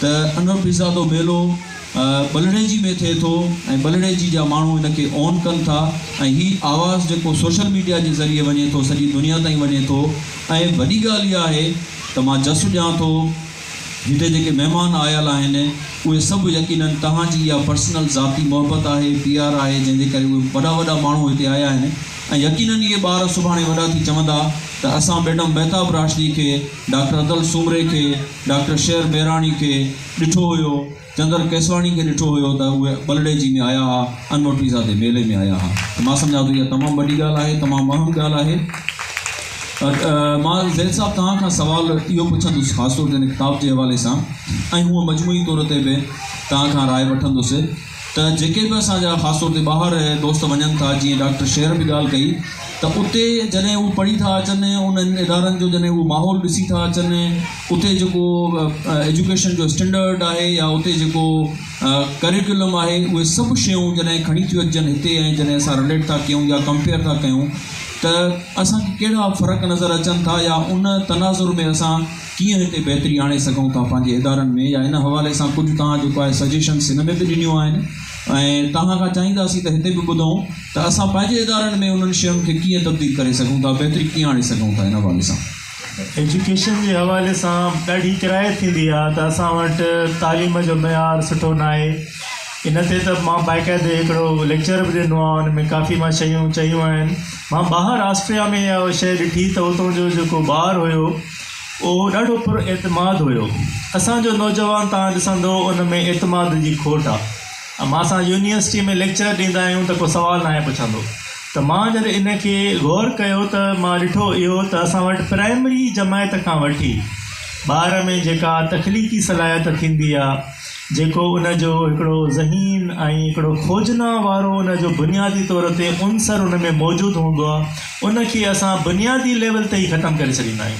ته انوپيزادو ميلو ٻلڙي جي ۾ ٿئي ٿو ۽ ٻلڙي جي جا ماڻهو ان کي اون ڪن ٿا ۽ هي آواز جيڪو سوشل ميڊيا جي ذريعي وڃي ٿو سڄي دنيا تائين وڃي ٿو ۽ وڏي ڳالهه اها آهي ته مان جس ڏيان ٿو هتي جيڪي مهمان آيل آهن اهي سڀ يقيناً توهان جي اها پرسنل ذاتي محبت آهي پيار آهي جنهن جي ڪري اهي وڏا وڏا ماڻهو هتي آيا آهن ۽ يقيناً اهي ٻار سڀاڻي وڏا ٿي چوندا ته اسان ميڊم مهتاب راشدي کي ڊاڪٽر ادل سومري کي ڊاڪٽر شير ميراڻي کي ڏٺو هيو، چندر ڪيسواڻي کي ڏٺو هيو ته اهي ٻلڙيجي ۾ آيا ها، انوٺي زادي ميلي ۾ آيا ها ته مان سمجهان ٿو اها تمام وڏي ڳالهه آهي، تمام اهم ڳالهه آهي. مان زيد صاحب توهان کان سوال اهو پڇندس خاص طور تي هن ڪتاب جي حوالي سان ۽ هونء مجموعي طور تي به توهان کان راء وٺندس. ته جيڪي به اسان جا خاص طور تي ٻاهر دوست وڃن ٿا جيئن ڊاڪٽر شير به ڳالهه ڪئي ته اتي جڏهن هو پڙهي ٿا اچن انهن ادارن جو جڏهن هو ماحول ڏسي ٿا اچن اتي جيڪو ايجوڪيشن جو اسٽينڊرڊ آهي يا اتي جيڪو ڪريڪولم آهي اهي سڀ شيون جڏهن کڻي ٿيون اچجن هتي ۽ جڏهن اسان رليٽ ٿا ڪيون يا ڪمپيئر ٿا ڪيون ته اسان کي ڪهڙا فرق نظر اچن ٿا يا ان تناظر ۾ اسان ڪيئن هتي بهتري آڻي سگهون ٿا پنهنجي ادارن ۾ يا ان حوالي سان ڪجهه توهان جيڪو آهي سجيشنس هن ۾ به ڏنيون آهن ۽ توهان کان چاهينداسين ته هتي به ٻڌون ته اسان پنهنجي ادارن ۾ انهن شين کي ڪيئن تبديل ڪري سگهون ٿا بهتري ڪيئن آڻي سگهون ٿا ان حوالي سان. ايجوڪيشن جي حوالي سان ڏاڍي ڪراهت ٿيندي آهي ته اسان وٽ تعليم جو معيار سٺو ناهي ان تي ته مان باقاعدي هڪڙو ليڪچر به ڏنو آهي ان ۾ ڪافي مان شيون چيون آهن مان ٻاهر آسٽريا ۾ اها شيء ڏٺي ته اتو جو جيڪو ٻار هيو اهو ڏاڍو پر اعتماد هيو. اسان جو نوجوان تان ڏسندو ان ۾ اعتماد جي کوٽ آ. امان سان يونيورسٽي ۾ ليڪچر ڏيندا آهيون ته ڪو سوال ناهي پڇندو. ته مان جڏهن ان کي غور ڪيو ته مان ڏٺو اهو ته اسان وٽ پرائمري جماعت کان وٺي ٻار ۾ جيڪا تخليقي صلاحيت ٿيندي آ، جيڪو ان جو هڪڙو ذهين ۽ هڪڙو کوجنا وارو ان جو بنيادي طور تي عنصر ان ۾ موجود هوندو آهي، ان کي اسان بنيادي ليول تي ئي ختم ڪري ڇڏيندا آهيون.